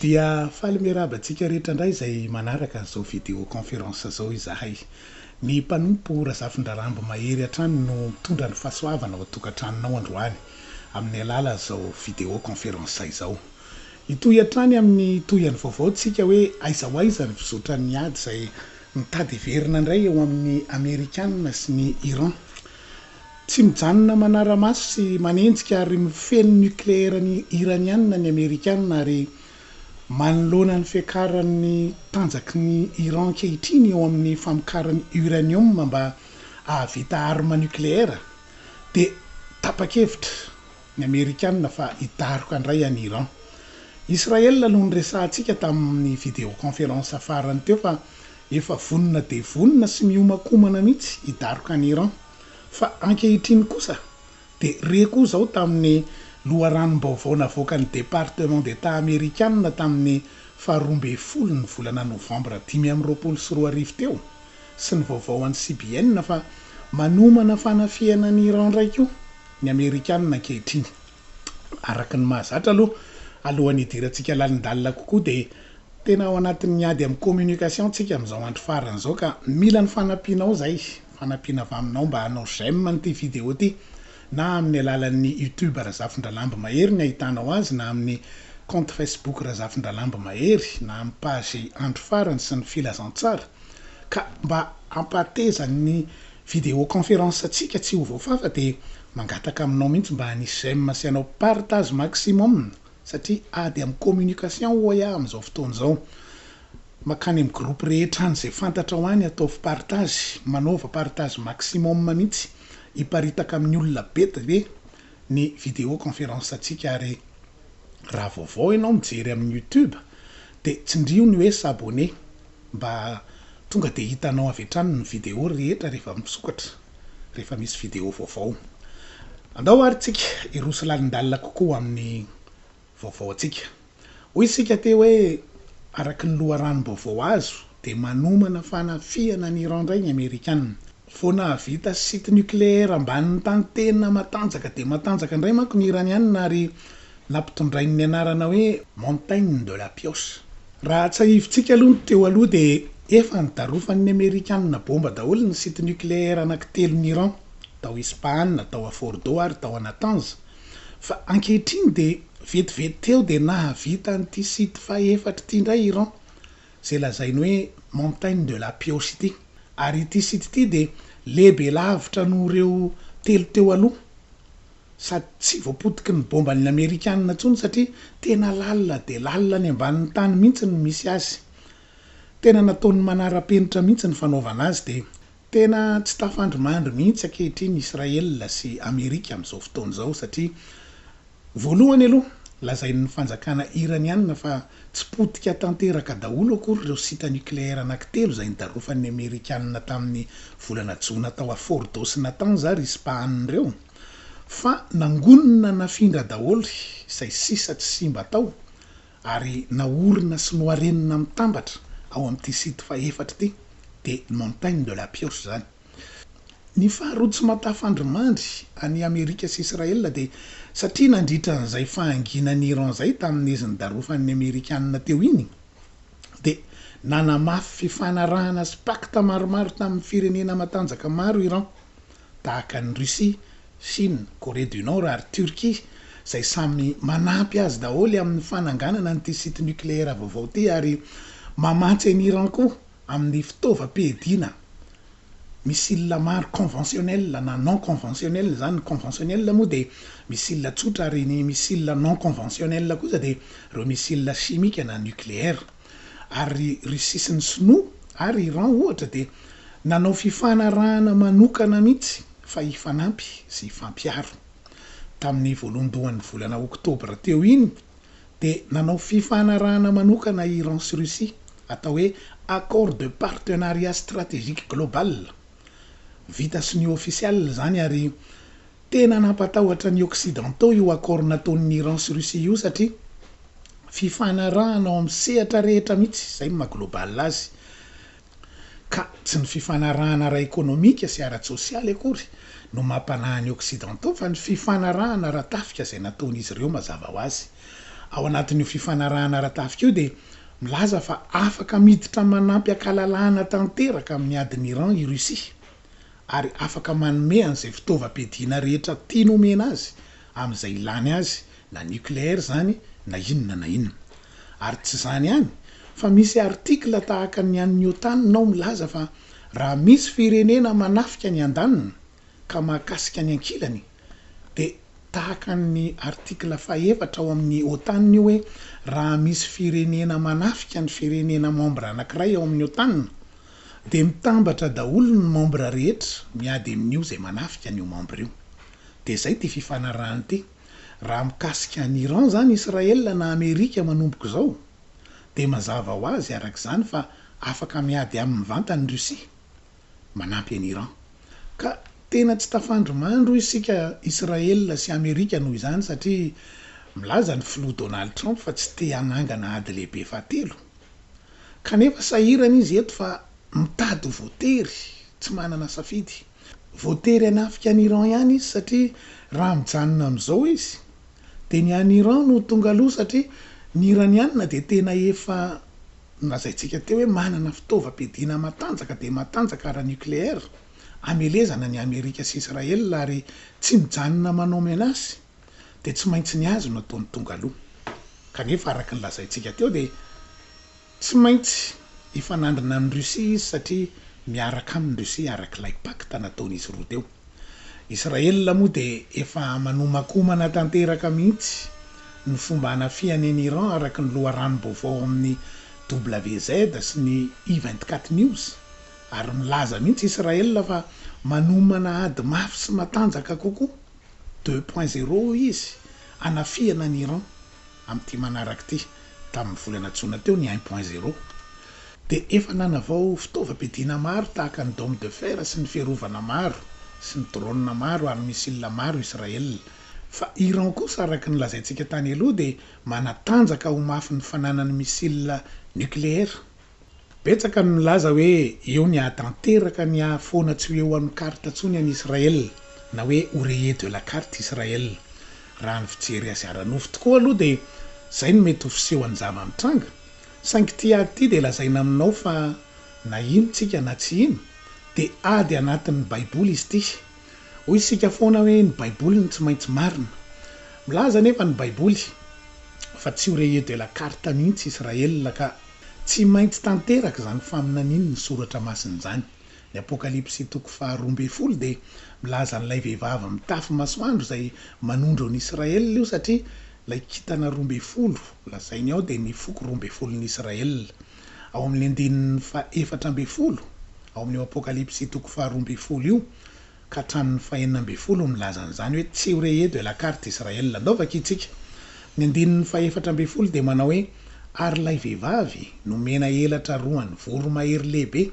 Dia faly miarahaba antsika rehetra indray izay manaraka an'izao video conférence izao izahay. Ny mpanompo Razafindrarambo Mahery hatrany no mitondra ny fahasoavana ao an-tokantranonao androany amin'ny alalan'izao video conférence izao. Hitohy hatrany amin'ny tohihany vaovao tsika hoe aiza ho aiza ny fizotran'ny ady izay Mitady hiverina indray eo amin'ny Amerikana sy ny Iran. Tsy mijanona manara-maso sy manenjika ary mifehy ny nokleerany Iraniana ny Amerikana ary manoloana ny fiakaran'ny tanjaky ny Iran ankehitriny eo amin'ny famokarany uranium mba hahavita arme nokleera dia tapa-kevitra ny Amerikana fa hidaroka indray an'i Iran. Israel no niresahantsika tamin'ny video conférence farany teo fa efa vonona dia vonona sy mihomankomana mihitsy hidaroka an'i Iran. Fa ankehitriny kosa dia re koa izao tamin'ny loharanom-baovao navoakan'ny Département d'Etat Amerikana tamin'ny faha roa ambin'ny folo ny volana novambra dimy amby roapolo sy roa arivo teo, sy ny vaovao an'ny CBN fa manomana fanafihana an'i Iran indray koa ny Amerikanina ankehitriny. Araka ny mahazatra aloha, alohan'ny hidirantsika lalindalina kokoa dia tena ao anatin'ny ady amin'ny communication tsika amin'izao andro farany izao ka mila ny fanampianao izay, fanampiana avy aminao mba hanao j'aime an'ity vidéo ity na amin'ny alalan'ny YouTube Razafindralamby Mahery ny ahitanao azy na amin'ny compte Facebook Razafindralamby Mahery na amin'ny page Andro Farany sy ny Filazantsara. Ka mba hampahateza ny video conference antsika tsy ho voafafa dia mangataka aminao mihitsy mba hanisy j'aime sy hanao partage maximum satria ady amin'ny communication hoy aho amin'izao fotoana izao. Makany amin'ny groupe rehetra any izay fantatrao any ataovy partage, manaova partage maximum mihitsy hiparitaka amin'ny olona be dia be ny video conference antsika ary raha vaovao ianao mijery amin'ny youtube dia tsindrio ny hoe s'abonner. mba tonga dia hitanao avy hatrany ny video rehetra rehefa misokatra, rehefa misy video vaovao. Andao ary isika hiroso lalindalina kokoa ho amin'ny vaovao antsika. Hoy isika teo hoe araka ny loharanom-baovao azo dia manomana fanafihana an'i Iran indray ny Amerikana. Vao nahavita site nucléaire ambanin'ny tany tena matanjaka dia matanjaka indray manko ny Iraniana ary nampitondrainy ny anarana hoe Montagne de la Pioche. Raha tsiahivintsika aloha ny teo aloha dia efa nidarofan'ny Amerikanina bomba daholo ny site nucléaire anakitelon'i Iran, tao Ispahan, tao à Fordo ary tao à Natanz. Fa ankehitriny dia vetivety teo dia nahavita an'ity site fahefatr ity indray Iran. izay lazainy hoe Montagne de la Pioche ity. Ary ity site ity dia lehibe lavitra noho ireo telo teo aloha. Sady tsy voapotiky ny bômban'ny Amerikanina intsony satria tena lalina dia lalina any ambanin'ny tany mihitsy no misy azy. Tena nataony manara-penitra mihitsy ny fanaovana azy dia Tena tsy tafandrimandry mihitsy ankehitriny Israël sy Amerika amin'izao fotoana izao satria voalohany aloha lazain'ny fanjakana Iraniana fa tsy potika tanteraka daholo akory ireo site nucléaire anakitelo izay nidarofan'ny Amerikana tamin'ny volana jona tao à Fordo sy Natanz ary Ispahan ireo fa nangonina nafindra daholo izay sisa tsy simba tao ary naorina sy noharenina mitambatra ao amin'ity site fahefatra ity dia Montagne de la Pioche izany. Ny faharoa tsy matafandrimandry an'i Amerika sy Israel dia satria nandritra an'izay fahanginan'i Iran izay tamin'izy nidarofan'ny Amerikanina teo iny dia nanamafy fifanarahana sy pacte maromaro tamin'ny firenena matanjaka maro Iran tahaka an'i Russie, Chine, Corée du Nord ary Turquie izay samy manampy azy daholo amin'ny fananganana an'ity site nucléaire vaovao ity ary mamatsy an'i Iran koa amin'ny fitaovam-piadiana missile maro conventionnel na non conventionnel, izany ny conventionnel moa dia missile tsotra ary ny missile non conventionnel kosa dia ireo missile chimique na nucléaire. Ary ry Russie sy ny Sinoa ary Iran ohatra dia nanao fifanarahana manokana mihitsy fa hifanampy sy hifampiaro. Tamin'ny voalohandohan'ny volana oktobra teo iny dia nanao fifanarahana manokana Iran sy Russie atao hoe Accord de partenariat stratégique global. Vita sonia ofisialy izany ary Tena nampatahotra ny occidentaux io accord nataon'ny Iran sy Russie io satria fifanarahana ao amin'ny sehatra rehetra mihitsy, izay no maha global azy, ka tsy ny fifanarahana ara-ekonomika sy ara-tsosialy akory no mampanahy ny occidentaux fa ny fifanarahana ara-tafika izay nataon'izy ireo mazava ho azy. Ao anatin'io fifanarahana ara-tafika io dia milaza fa afaka miditra manampy an-kalalahana tanteraka amin'ny adin'i Iran i Russie. ary afaka manome an'izay fitaovam-piadiana rehetra tiany homena azy amin'izay ilany azy na nucléaire izany na inona na inona. Ary tsy izany ihany fa misy article tahaka ny an'ny OTAN nao milaza fa raha misy firenena manafika ny andaniny ka mahakasika ny ankilany, dia tahaka ny article fahefatra ao amin'ny OTAN io hoe raha misy firenena manafika ny firenena membre anankiray ao amin'ny OTAN dia mitambatra daholo ny membre rehetra miady amin'io izay manafika an'io membre io. Dia izay ity fifanarahana ity. Raha mikasika an'i Iran izany Israel na Amerika manomboka izao dia mazava ho azy araka izany fa afaka miady aminy mivantana i Russie. manampy an'i Iran. Ka tena tsy tafandry mandro isika Israel sy Amerika noho izany satria milaza ny filoha Donald Trump fa tsy te hanangana ady lehibe fahatelo. Kanefa sahirana izy eto fa mitady ho voatery, tsy manana safidy. Voatery hanafika an'i Iran ihany izy satria raha mijanona amin'izao izy Dia ny any Iran no tonga aloha satria ny Iraniana dia tena efa nolazaintsika teo hoe manana fitaovam-piadiana matanjaka dia matanjaka ara-nucléaire amelezana ny Amerika sy Israel ary tsy mijanona manao menace dia tsy maintsy ny azy no ataony tonga aloha kanefa araka ny lazaintsika teo dia Tsy maintsy hifanandrina amin'i Russie izy satria miaraka aminy Russie araka ilay pacte nataon'izy roa teo. Israel moa dia efa manomankomana tanteraka mihitsy ny fomba hanafihany an'i Iran araka ny loharanom-baovao ao amin'ny WZ sy ny I 24 news ary milaza mihitsy Israel fa manomana ady mafy sy matanjaka kokoa deux point zéro hoy izy hanafihana an'i Iran. Amin'ity manaraka ity, tamin'ny volana jona teo ny un point zero, dia efa nanavao fitaovam-piadiana maro tahaka ny dôme de fer sy ny fiarovana maro sy ny drôna maro ary missile maro Israel. Fa Iran kosa araka ny lazaintsika tany aloha dia manatanjaka ho mafy ny fananany missile nikleera. Betsaka ny milaza hoe eo ny hahatanteraka ny hahafoana tsy ho eo amin'ny carte intsony an'i Israël na hoe au rayer de la carte Israël. Raha ny fijery azy ara-nofo tokoa aloha dia izay no mety ho fisehon'ny zava-mitranga. Saingy ity ady ity dia lazaina aminao fa na ino tsika na tsy ino dia ady anatin'ny baiboly izy ity. Hoy isika foana hoe ny baiboly no tsy maintsy marina. Milaza anefa ny baiboly fa tsy ho rayer de la carte mihitsy Israël ka. Tsy maintsy tanteraka izany faminanian' ny Soratra Masina izany. Ny Apokalypsy toko faharoa ambin'ny folo dia milaza an'ilay vehivavy mitafy masoandro izay manondro an'i Israel io satria ilay kintana roa ambin'ny folo lazainy ao dia ny foko roa ambin'ny folon'i Israel. Ao amin'ny andininy faha efatra ambin'ny folo ao amin'io Apokalypsy toko faharoa ambin'ny folo io, ka hatramin'ny fahenina ambin'ny folo no milaza an'izany hoe tsy ho re edo et la carte Israël. Andao vakiantsika. Ny andininy fahefatra ambin'ny folo dia manao hoe, Ary ilay vehivavy nomena elatra roa an'ny voromahery lehibe,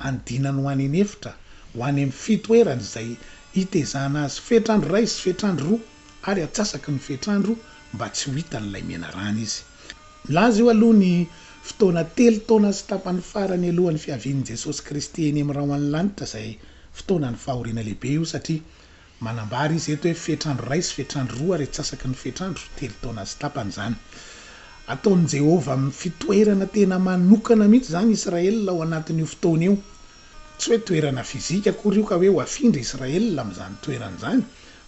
andinany ho any an'efitra, ho any amin'ny fitoerany izay hitezana azy fetr'andro iray sy fetr'andro roa, ary atsasaky ny fetr'andro mba tsy ho hitan'ilay menarana izy. Nilaza io aloha ny fotoana telo taona sy tapany farany alohan'ny fiavian'i Jesosy Kristy eny amin'ny rahona ny lanitra izay fotoanan'ny fahoriana lehibe io satria manambara izy eto hoe fetr'andro iray sy fetr'andro roa ary atsasaky ny fetr'andro telo taona sy tapany izany ataon'i Jehovah fitoerana tena manokana mihitsy izany Israel ao anatin'io fotoana io Tsy hoe toerana fizika akory io ka hoe ho afindra Israel amin'izany toerana izany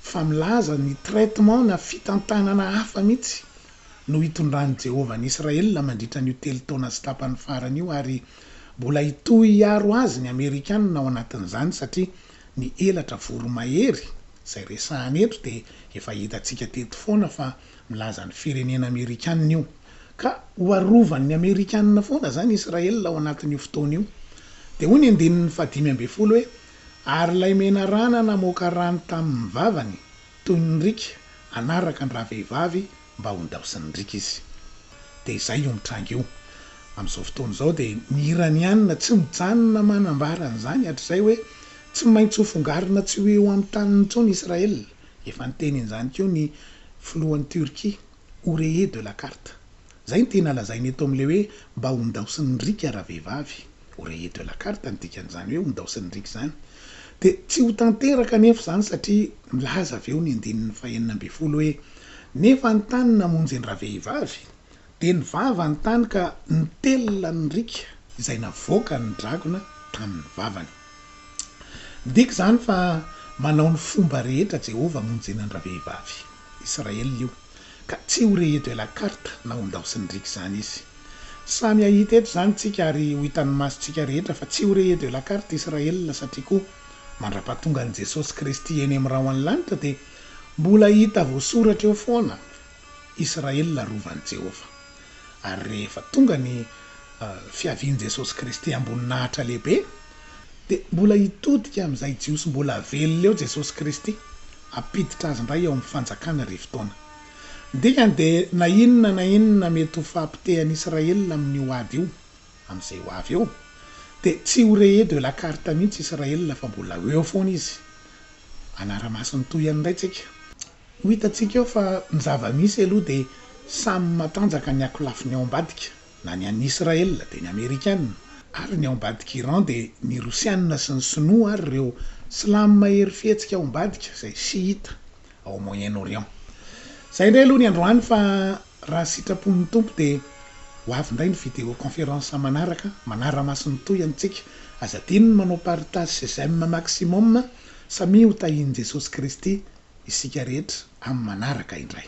fa milaza ny traitement na fitantanana hafa mihitsy no hitondran'i Jehovah an'i Israel mandritra an'io telo taona sy tapany farany io ary mbola hitohy hiaro azy ny Amerikana ao anatin'izany satria ny elatra voromahery izay resahana eto dia efa hitantsika teto foana fa milaza ny firenena Amerikana io. Ka ho arovan'ny Amerikanina foana izany Israel ao anatin'io fotoana io. Dia hoy ny andininy fahadimy ambin'ny folo hoe, Ary ilay menarana namoaka rano tamin'ny vavany, toy ny riaka, hanaraka an-dravehivavy mba hondaosin'ny riaka izy. Dia izay io mitranga io. Amin'izao fotoana izao dia ny Iraniana tsy mijanona manambara an'izany hatrizay hoe, tsy maintsy hofongarina tsy ho eo amin'ny taniny intsony Israel. Efa niteny an'izany koa ny filohan'i Turquie. ho rayé de la carte. Zay ny tena lazaina eto amin'ilay hoe mba hondaosin'ny riaka raha vehivavy. Ho rayé de la carte ny dikan'izany hoe hondaosin'ny riaka izany. Dia tsy ho tanteraka anefa izany satria milaza avy eo ny andininy fahenina ambin'ny folo hoe nefa ny tany namonjy an-dravehivavy dia ny vava ny tany ka nitelina ny riaka izay navoakan'ny dragona tamin'ny vavany. Midika izany fa manao ny fomba rehetra Jehovah hamonjena an-dravehivavy Israel io, ka tsy ho rehedo à la carte na ho ndao sy ndriaka izany izy. Samy hahita eto izany isika ary ho hitan'ny masontsika rehetra fa tsy ho rehedo à la carte Israel satria koa mandrapahatongan'i Jesosy Kristy eny amin'ny rahona ny lanitra dia mbola hita voasoratra eo foana Israely rovan'i Jehovah. Ary rehefa tonga ny fiavian'i Jesosy Kristy am-boninahitra lehibe, dia mbola hitodika amin'izay Jiosy mbola velona eo Jesosy Kristy, hampiditra azy indray ao amin'ny Fanjakana Arivo Taona. Ny dikany dia na inona na inona mety ho fahapotehan'i Israely amin'io ady io, amin'izay ho avy eo, dia tsy ho rayé de la carte mihitsy Israely fa mbola eo foana izy. Hanara-maso ny tohiny indray isika. Ho hitantsika eo fa ny zava-misy aloha dia samy matanjaka ny ankolafiny ao ambadika, na ny an'i Israel dia ny Amerikana, ary ny ao ambadik'i Iran dia ny Rosiana sy ny Sinoa ary ireo Silamo mahery fihetsika ao ambadika izay Shiita ao Moyen-Orient. Izay indray aloha ny androany fa Raha sitrapon'ny Tompo dia ho avy indray ny video conférence manaraka manara-maso ny tohiny antsika. Aza adino ny manao partage sy j'aime maximum samia ho tahin'i Jesosy Kristy isika rehetra amin'ny manaraka indray.